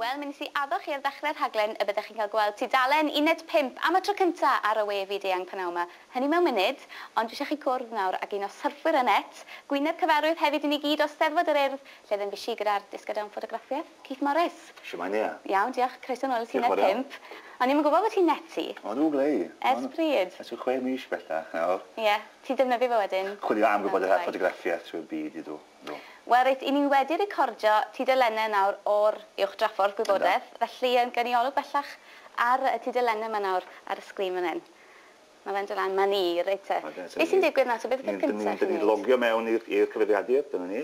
Wel, mi nes i addo chi ar ddechre'r rhaglen y byddech chi'n cael gweld tudalen uned pump am y tro cynta ar y we fyd eang p'nawn 'ma, hynny mewn munud, ond dwi isio chi gwrdd nawr ag un o syrffwyr y net, gwyneb cyfarwydd hefyd i ni gyd o Steddfod yr Urdd, lle fe fues i gyda'r disgyblion ffotograffiaeth, Keith Morris. Shwmae Nia? Iawn, diolch, croeso nôl at uned pump. O'n i'm yn gwybod bod ti'n neti. O dw ble i? Ers pryd? Ers ryw chwe mis bellach nawr. Ie, ti'n defnyddio fe wedyn? Chwilio am gwybodaeth ar ffotograffiaeth trwy'r byd i dw. Do. Wel reit, 'yn ni wedi recordio tudalennau nawr o'r Uwch Draffordd Gwybodaeth. Yndan. Felly yym gawn ni olwg bellach ar y tudalennau 'ma nawr ar y sgrin fan 'yn. Ma' fe'n do' lan, 'ma ni, reit te. Oce, so ni... Be' sy'n digwydd nawr te, beth yw'r peth cynta chi'n neud? 'Dyn ni'n logio mewn i'r i'r cyfrifiadur, dyna ni,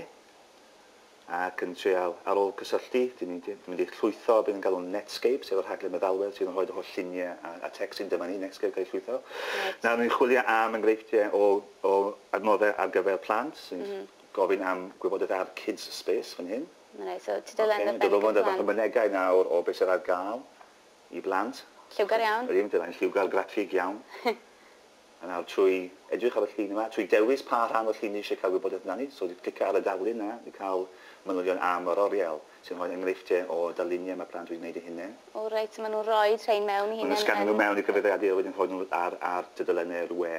ac yn treial, ar ôl cysylltu, 'dyn ni 'di mynd i'ch llwytho be' ni'n galw Netscape, sef y rhaglen meddalwedd sydd yn rhoid y holl llunie a a tecstyn, dyma ni, Netscape 'di ca'l ei llwytho. Reit. Nawr, 'yn ni'n chwilio am enghreifftie o O adnoddau ar gyfer plant sy'n gofyn am gwybodaeth ar Kids Space fan hyn. Mae'n reit, so tudalen ar ben y cyfan. Ocê, dod o fod efo mynegai nawr o beth sydd ar gael i blant. Lliwgar iawn. Yr un pethau, yn lliwgar graffig iawn. A nawr trwy edrych ar y llun yma, trwy dewis pa rhan o'r llun ni eisiau cael gwybodaeth amdani, so clica ar y darlun yna i cael manylion am yr oriel, sy'n rhoi enghreifftiau o darluniau mae plant wedi gwneud eu hunain. O reit, so maen nhw'n rhoi rhein mewn eu hunain yn... Maen nhw'n sganio nhw mewn i gyfrifiadur a wedyn rhoi nhw ar tudalenau'r we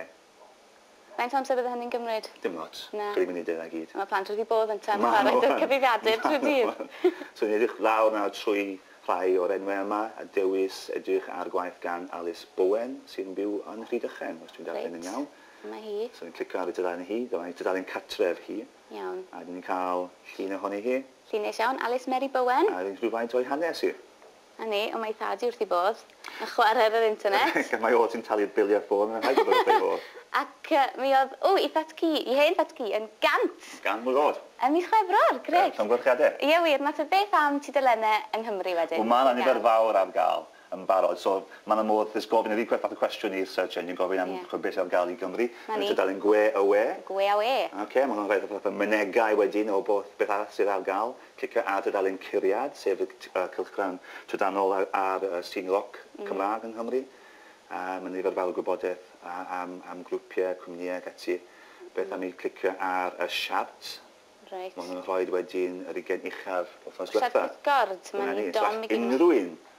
Faint o amser bydde hynny'n gymryd? Dim ots. Na. Chi ddim yn neud e 'na gyd. A ma' plant wedi bodd ynte am chwarae 'da cyfrifiadur trwy'r dydd. So ni'n edrych lawr nawr trwy rhai o'r enwe yma a dewis edrych ar gwaith gan Alys Bowen sy'n byw yn Rhydychen os dwi'n darllen yn iawn. Reit. Dyma hi. So ni'n clicio ar ei dudalen hi. Dyma ei dudalen cartref hi. Iawn. A 'dyn ni'n ca'l llun ohoni hi. Llun neis iawn. Alys Mary Bowen. A rhywfaint o'i hanes hi. A ni, ond mae ei thad hi wrth ei bodd yn chwarae ar yr internet. Ac mae o sy'n talu'r biliau ffôn, mae'n rhaid bod wrth ei fodd. Ac mi oedd, ww, ei thad cu, ei hen thad cu, yn gant! Gan mlwydd oed. Ym mis Chwefror, grêt! Llongyfarchiadau. Ie wir, na tha beth am tudalenne yng Nghymru wedyn. Wel, mae 'na nifer fawr ar gael yn barod, so mae 'na modd jyst gofyn yr un fath o cwestiwn i'r search engine, gofyn am ch'mod beth sydd ar gael i Gymru. 'Na ni. Yn y tudalen Gwe a Ŵe. Gwe a Ŵe. Ocê, ma' hwnna'n rhoi fatha mynegai wedyn o beth arall sydd ar gael. Cicio ar dudalen Curiad, sef y cylchgrawn trydanol ar Sîn Roc Cymraeg yng Nghymru. Mae'n nifer fawr o gwybodaeth am grwpiau, cwmnïau ac ati. Beth am i clicio ar y siart? Reit. Mae hwn yn rhoid wedyn yr ugain uchaf wythnos diwetha'. Siart pysgod, mae'n dom i gyd. Unrhyw un